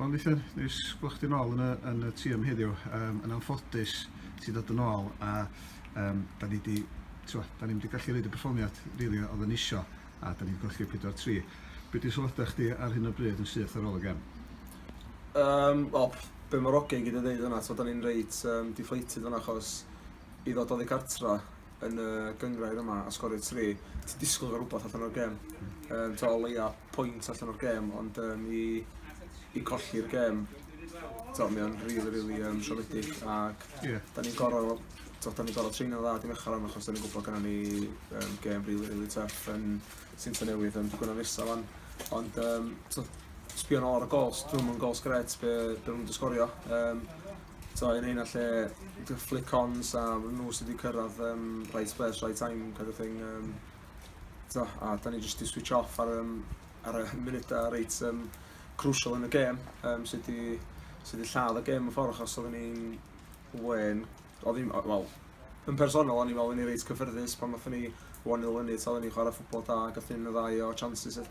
Wel Nithan, neis gweld chdi nôl yn y, yn y tîm heddiw. Um, yn anffodus, ti ddod yn ôl a um, da ni wedi t'wo', 'dan ni'm 'di gallu roid y perfformiad rili odd yn isio a 'dan ni 'di golli pedwar tri. Be' 'di sylwada chdi ar hyn o bryd yn syth ar ôl y gem? Um, wel, be' ma'r ogyn gyd yn ddeud yna, t'mo' 'dan ni'n reit um, deflated yna achos i ddod oddi cartra yn y gyngrair yma a sgorio tri, ti'n disgwyl gael rhywbeth allan o'r gêm. Um, to, o leia pwynt allan o'r gêm, ond um, i, i colli'r gêm, to, mi o'n rili, really, rili really, um, siomedig. Ac yeah. da ni'n gorau, to, da ni'n gorau treino dda dim eich rhan, achos da ni'n gwybod gyda ni um, gêm rili, really, rili really tuff yn sy'n tyn newydd yn digwydd yn nesaf fan. Ond, um, to, sbio'n ôl ar y gols, dwi'n mwyn gols gret be, be nhw'n disgorio. Um, So yn hyn lle dy flick-ons a nhw sydd wedi cyrraedd um, right place, right time kind of thing. Um, so, a da ni jyst i switch off ar, um, ar y munudau reit um, crucial yn y gêm um, sydd wedi sy wedi lladd y gêm yn ffordd achos oedden ni'n wen, oedden ni'n, wel, yn personol, o'n i'n meddwl o'n i'n reit cyffyrddus pan oedden ni 1-0 fyny, so oedden ni'n chwarae ffwbol da, gath ni'n y ddau o chances. Edd.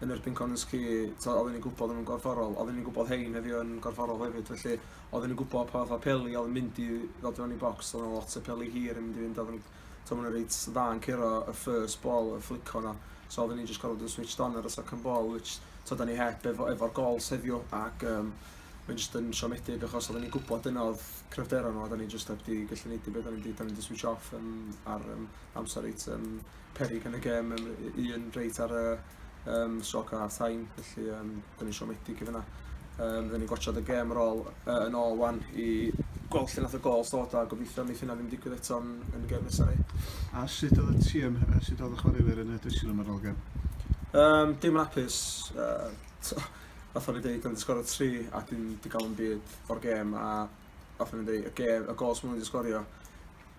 yn erbyn Kononski, tibod, oedden ni'n gwybod o'n nhw'n gorfforol, oedden ni'n gwybod hein heddiw yn gorfforol hefyd, felly oedden ni'n gwybod pa fath o peli oedd yn mynd i ddod mewn i bocs, oedd yna lot o peli hir yn mynd i fynd, oedd yn, tibod, maen reit dda yn curo y first ball, y fflico yna, so oedden ni'n just gorfod bod yn switched on ar y second ball, which, tibod, da ni heb efo, efo'r gols heddiw, ac um, mae'n just yn siomedig achos oedden ni'n gwybod dyna oedd cryfderon nhw a da ni just heb di gallu neud i beth, da ni'n di, da ni'n di switch off um, ar um, amser reit um, peryg yn y gêm, um, un reit ar y um, stroc o half time, felly um, dyn ni'n siomedig i fyna. Um, dyn ni'n gwatsiad y gêm yn ôl, uh, yn ôl wan i gweld lle nath y gol stod a gobeithio wneud hynna ddim digwydd eto yn, yn y gêm nesaf ni. A sut oedd y tîm, a sut oedd y chwaraewyr yn y drysil yma'r ôl gêm? Um, dim yn apus. Uh, fath o'n i dweud, yn ddysgorio tri a dim digawn byd o'r gêm a fath o'n i dweud, y, gêm, y gol sy'n mynd i ddysgorio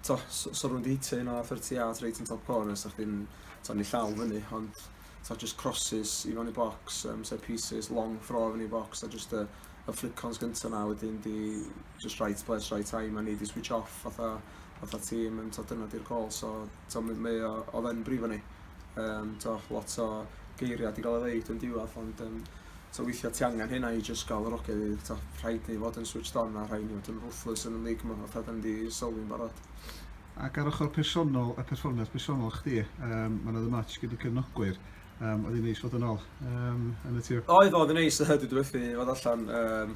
t'o' so so rwy'n 'di hitio un o thirty yards reit yn top corner so chdi'n t'o' yn 'i llaw fyny ond t'o' jyst crosses i fewn i bocs yym set pieces long throw i fyny i bocs a jyst y y flick-ons gynta' 'na wedyn 'di jyst right place right time a ni 'di switch off fatha fatha tîm yn t'o' dyna 'di'r gôl so t'o' m- mae o odd e'n brifo ni. Um, to, lot o geiriau di gael ei ddeud yn diwedd, ond um, to, weithiau ti angen hynna i just gael yr oge i ddeud, to, rhaid ni fod yn switched on a rhaid ni fod yn ruthless yn y lig yma, fatha da ni di sylwi'n barod. Ac ar ochr personol a perfformiad personol chdi, um, mae'n oedd y match gyda cefnogwyr, um, oedd hi'n neis fod yn ôl um, yn y tîm? Oedd, oedd yn neis, dwi wedi wedi fod allan, um,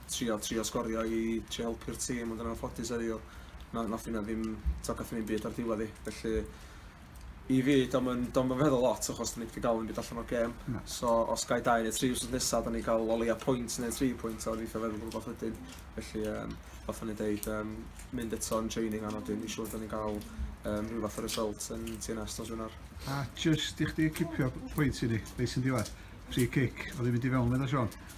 trio trio sgorio i trio helpu'r tîm ond yn anffodus heddiw na nath hynna ddim t'o' gath hynny'm byd ar ddiwedd 'i felly i fi do'm yn do'm yn feddwl lot achos 'dyn ni 'im 'di ga'l unbyd allan o'r gêm. Na. So os gai dau neu tri wsos nesa 'dan ni ga'l o leia pwynt neu tri pwynt a obeithio feddwl rwbath wedyn felly yym fatha o'n i'n deud yym mynd eto yn draining anodd wedyn fi'n siŵr 'dan ni'n ga'l yym rhyw fath o result yn Tŷ Nest nos Wener. A jyst i chdi cipio pwynt i ni, reit yn diwedd, free kick o'dd 'di mynd i fewn medda Siôn.